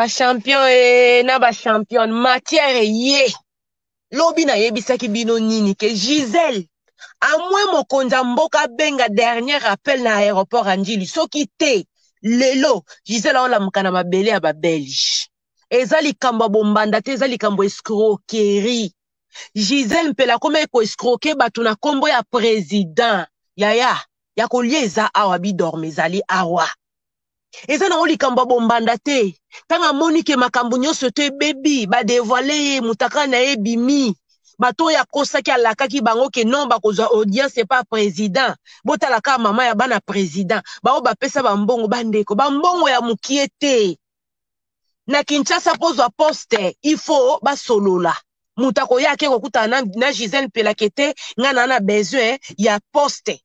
ba champion e na ba champion matière eye lobi nayebisaki bino nini ke gisele amwe mokonzi ya mboka abenga dernier appel na aéroport ya ndjili soki te lelo gisele aolamuka na mabele ya babelge eza likambo ya bombanda te eza likambo escroquerie gisele mpela akomaki koescroke bato na nkombo ya president yaya ya kolia eza awa bidorme ezali awa eza nango likambo ya bombanda te ntango amoni ke makambo nyonso to ebebi badevoile ye motaka na ye ebimi bato oyo akosaki alakaki bango ke non bakozwa audience epa president botala kaka mama ya bana president baoyo bapesa bambongo bandeko bambongo ya mokie te na kinshasa mpo ozwa poste il faut basolola moto akoya ake kokutana na, na gisele mpelake te ngai naa na besoin ya poste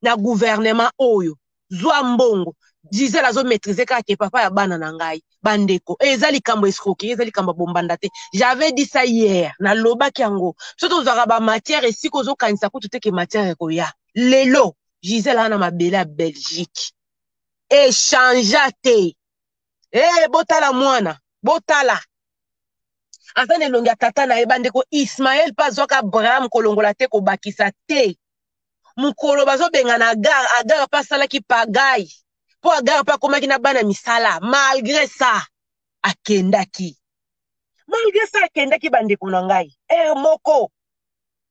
na guvernema oyo zwa mbongo gisele azomaîtrise kaka ke papa ya bana na ngai bandeko eh, eza likambo escroquerie eza likambo ya bombanda te j'avais dit ça hier nalobaki yango biso tozwaka bamatière esika ozokanisa kutu te ke matière ekoya lelo gisele aa na mabele ya belgique echangea te ee eh, botala mwana botala aza na elongi ya tata na ye bandeko ismael mpe azwaka abraham kolongola te kobakisa te mokolo bazobengana agar agar mpe asalaki pagai mpo agar mpe akomaki na bana misala malgre ça akendaki malgre sa akendaki bandeko na ngai ere moko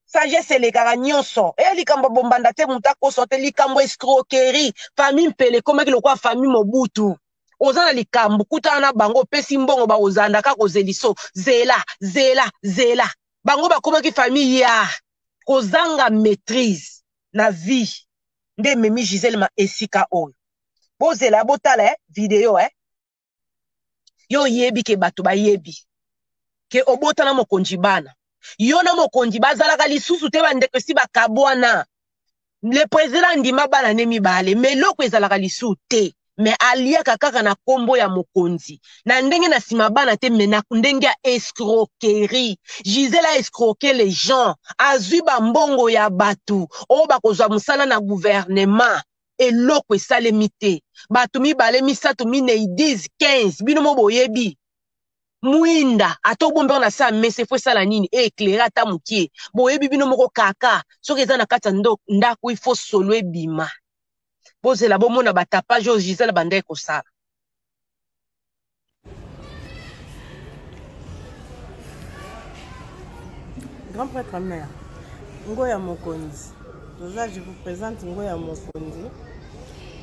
sagesse elekaka nyonso eya likambo ya bombanda te moto akosa te likambo escroquerie famille mpele ekomaki lokola famille mobutu oza na likambo kutana na bango opesi mbongo bakozanda kaka kozeliso zela zela zela bango bakomaki famille ya kozanga maîtrise na vie nde ememi gisele ma esika oyo bozela botala eh, video eh. yo oyebi ke bato bayebi ke obota na mokonzi bana yo na mokonzi bazalaka lisusu te bandeko esi bakabwana le president andima bana ne mibale me eloko ezalaka lisusu te me aliaka kaka na nkombo ya mokonzi na ndenge na nsima bana te me na ndenge ya escroquerie gisela escroque les gens azwi bambongo ya bato oyo bakozwa mosala na guvernema eloko esalemi te bato mibale misato minei 10 15 bino mo boyebi mwinda ata obombi yango na saa mesa efo esala nini eeclaire ata mokie boyebi bino moko kaka soki eza na kati ya ndako ifo solo ebima bozela bomona batapage oyo gisele bandai kosala grand prêtre mère ngo ya mokonzi toza je vous présente ngo ya mokonzi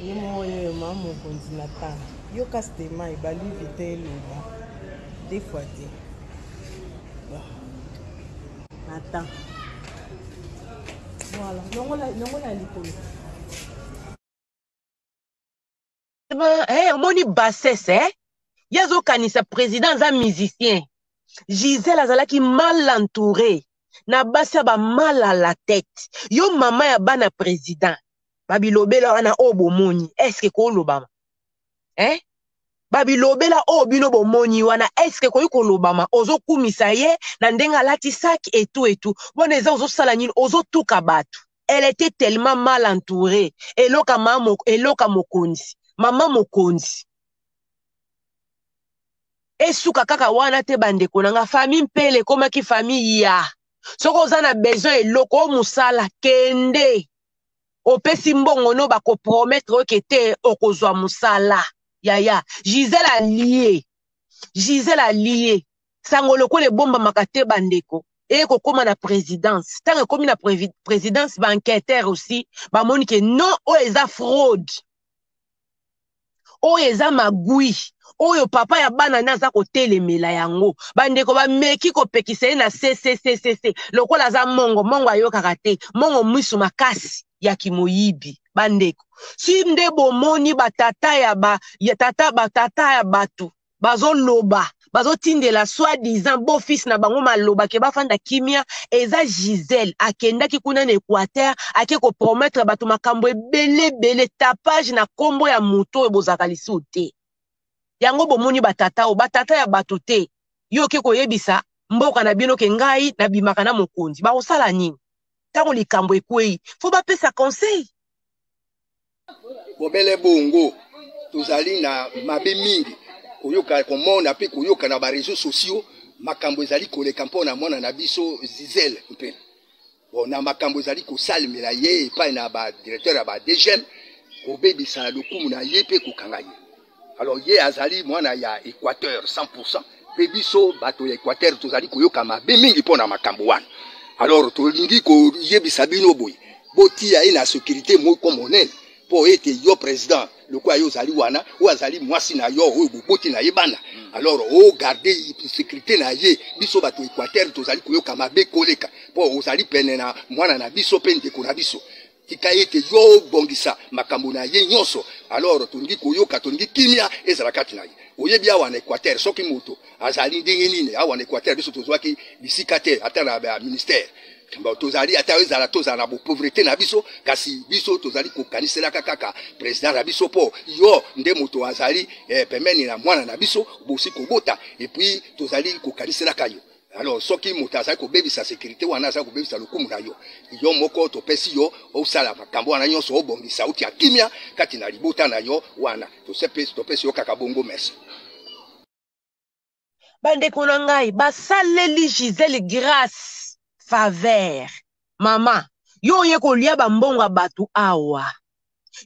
ye moko ye ma mokonzi na tanga yo kasi te mai baluvi te eloba de fois te na temps voilà longola likolo eh, omoni bassesse eh? ye azokanisa président aza musicien gisele azalaki mal entouré na basi ya bamal à la tête yo mama ya bana président babilobela wana oyo bomoni eske kolobama eh? babilobela oyo bino bomoni wana eske ekoki kolobama ozokumisa ye na ndenge alati saki etu etu bona eza ozosala nini ozotuka bato elle était tellement mal entourée eloka mama eloka mokonzi mama mokonzi esuka kaka wana te bandeko na nga famille mpele ekomaki famille ya soki oza na besoin eloko o mosala kende opesi mbongo no bakopromettre oke te okozwa mosala yaya gisele alie gisele alie sango lokola ebombamaka te bandeko eye kokóma na présidence ntango ekómi na présidence baenquêteur aussi bamoni ke non oyo eza fraude oyo eza magui oyo papa ya bana nde aza kotelemela yango bandeko bameki kopekisa ye na ccccc lokola aza mongo mongo ayokaka te mongo mwisu makasi ya kimoyibi bandeko si nde bomoni batata ya ba ya tata batata ya bato bazoloba bazotindela soit disant beau fils na bango maloba ke bafanda kimia eza gisele akendaki kuna na équateur ake kopromettre bato makambo ebele ebele tapage na nkombo ya moto oyo bozalaka lisusu te yango bomoni batata oyo batata ya bato te yo oke koyebisa mboka na bino ke ngai nabimaka na mokonzi bakosala nini ntango likambo ekwei fo bapesa conseil bobele bongo tozali na mabe mingi koyoka komona mpe koyoka na bareseau sociaux makambo ezali koleka mpo na mwana na biso zizele mpe bon, na makambo ezali kosalemela ye epai na badirecteur ya badegem kobebisa lokumu na ye mpe kokanga ye alors ye azali mwana ya équateur 100 mpe biso bato ya équateur tozali koyoka mabe mingi mpo na makambo wana alors tolingi koyebisa bino boye botiya ye na sécurité moko monene mpo ete yo président lokola yo ozali wana oyo azali mwasi na yo oyo boboti na ye bana mm. alors ogarde oh, sécurité na ye biso bato équateur tozali koyoka mabe koleka mpo ozali pene na mwana na biso mpe ndeko na biso tika ete yo obongisa makambo na ye nyonso alors tolingi koyoka tolingi kimia ezala kati na ye oyebi awa na équateur soki moto azali ndenge nini awa na équateur biso tozwaki bisika te ata na baministère tozali ata ezala tozala na bopauvreté na biso kasi biso tozali kokaniselaka kaka président na biso mpo yo nde moto azali eh, pembeni na mwana na biso bosi kobota epuis tozali kokaniselaka yo alors soki moto azali kobebisa sécurité wana azali kobebisa lokumu na yo yo moko topesi yo osala makambo wana nyonso obongisa otia kimia kati na libota na yo wana topesi yo kaka bongo merci bandeko na ngai basaleli gisele grace faveur mama yo oye kolia bambongo ya bato awa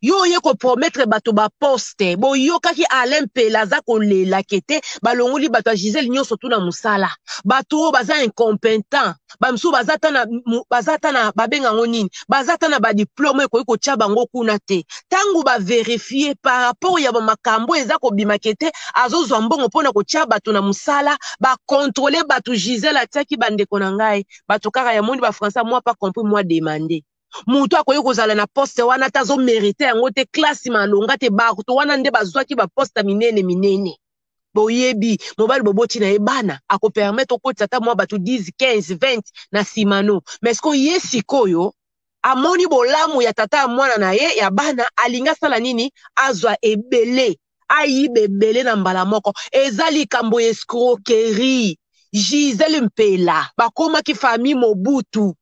yo oye kopromettre bato baposte boyokaki alain mpela aza kolela kete balongoli bato ya gisele nyonso tu na mosala bato oyo baza incompetent bamisusu baza ata na baza ata na babenga yango nini baza ata na badiplome ekoki kotya bango kuna te ntango baverifie par rapport ya bamakambo eza kobima kete azozwa mbongo mpo na kotya bato na mosala bakontrole bato gisele atyaki bandeko na ngai bato kaka ya moni bafrançais mwa pa compris mwa demande moto akoki kozala na poste wana ata azomerite yango te klasi malonga te bato wana nde bazwaki baposte minene minene boyebi mobali boboti na ye bana akopermetre okotisa ata mwa bato 10 15 20 na nsima no mais siko ye sikoyo amoni bolamu ya tata ya mwana na ye ya bana alingi asala nini azwa ebele ayiba ebele na mbala moko eza likambo ya escroquerie gisele mpela bakomaki famille mobutu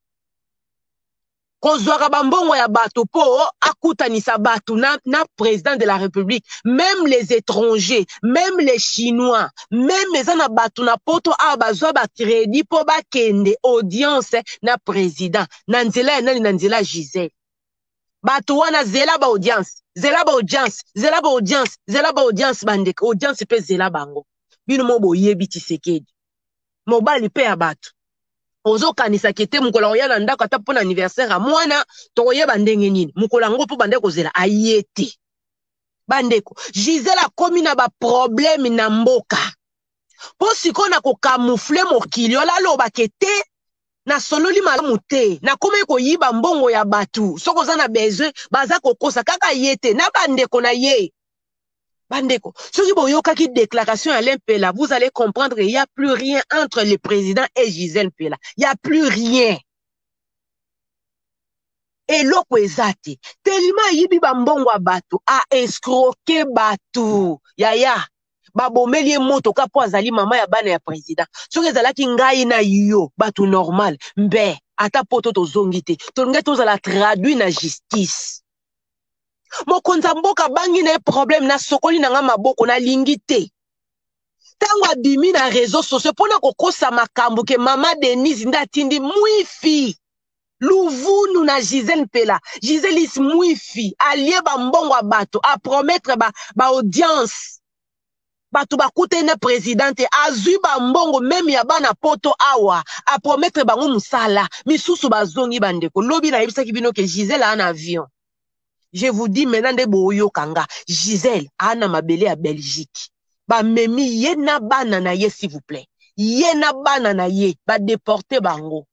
kozwaka bambongo ya bato mpo akutanisa bato na, na président de la république même les étrangers même les chinois même eza na bato na poto awa bazwa bacrédit mpo bakende audience na président na nzela ya nani na nzela gisele bato wana zela baaudience zela baaudience zela baaudience zela baaudience bandeko audience mpe zela bango bino mo boyebi tisekedi mobali mpe ya bato ozokanisa ke te mokolo akoya na ndako ata mpo na anniversaire ya mwana tokoyeba ndenge nini mokolo yango mpo bande kozela aye te bandeko gisele akomi na baprobleme na mboka mpo sikoyo na kokamoufle mokili ola alobake te nasololi malamu te nakomaki koyiba mbongo ya bato soki oza na besoin baza kokosa kaka ye te na bandeko na ye bandeko soki boyokaki déclaration ya lempela vous allez comprendre il y a plus rien entre le président et gisèle mpela il y a plus rien eloko eza te telima ayibi bambongo ya bato aescroke bato yaya babomeli ye motoka mpo azali mama ya bana ya président soki ezalaki ngai na yo bato normal mbe ata poto tozongi te tolingai tozala traduit na justice mokonzi ya mboka abangi na ye problème nasokoli na nga maboko nalingi te ntango abimi na réseau sociaux mpo na kokosa makambo ke mama denise nde atindi mwifi luvunu na gisele mpela gisele is mwifi alie bambongo ya bato apromettre baaudience ba bato bakutani na president te azwi bambongo meme ya bana poto awa apromettre bango mosala misusu bazongi bandeko lobi nayebisaki bino ke gisele aa na avion je vous dis maintenant nde boyoka nga gisele aa na mabele ya belgique bamemi ye na bana na ye s'il vous plaît ye na bana na ye badeporte bango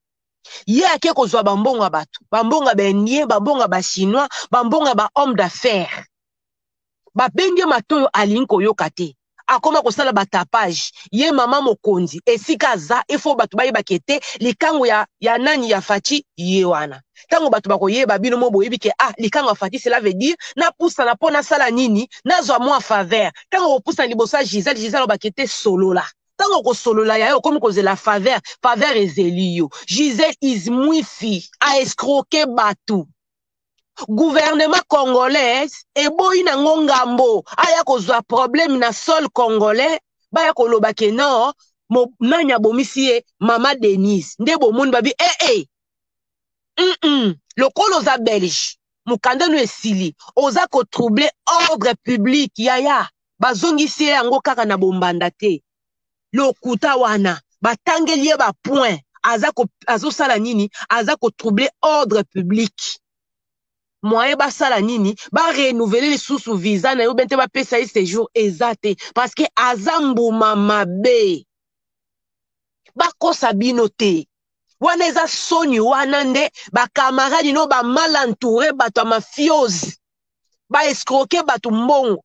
ye ake kozwa bambongo ya bato bambongo ya baindien bambongo ya bachinois bambongo ya bahomme d'affaires babenge matoyo alingi koyoka te akoma kosala batapage ye mama mokonzi esika aza efo bato bayebake te likango ya, ya nani ya faci ye wana ntango bato bakoyeba bino mo boyebi ke ah likango ya faci cela veut dire napusana mpo nasala nini nazwa mwa faveur ntango kopusana liboso ya gisele gisele obake te solola ntango okosolola yaye okomi kozela faveur faveur ezeli yo gisele is mwifi aescroke bato gouvernement congolais eboyi na ngo ngambo aya kozwa problème na sol congolais baya koloba ke non nani abomisi ye mama denise nde bomoni babi ee eh, hey, eh. hey. mm -mm. lokola oza belge mokanda no esili oza kotrouble ordre public yaya bazongisi ye yango kaka na bombanda te lokuta wana batangeli ye ba point aza ko, azosala nini aza kotrouble ordre public moyen basala nini barenouveler lisusu visa na yo bente bapesa ye séjour eza te parce que aza mbuma mabe bakosa bino te wana eza soni wana nde bakamaradi no bamal entoure bato ya mafiose baescroke bato mbongo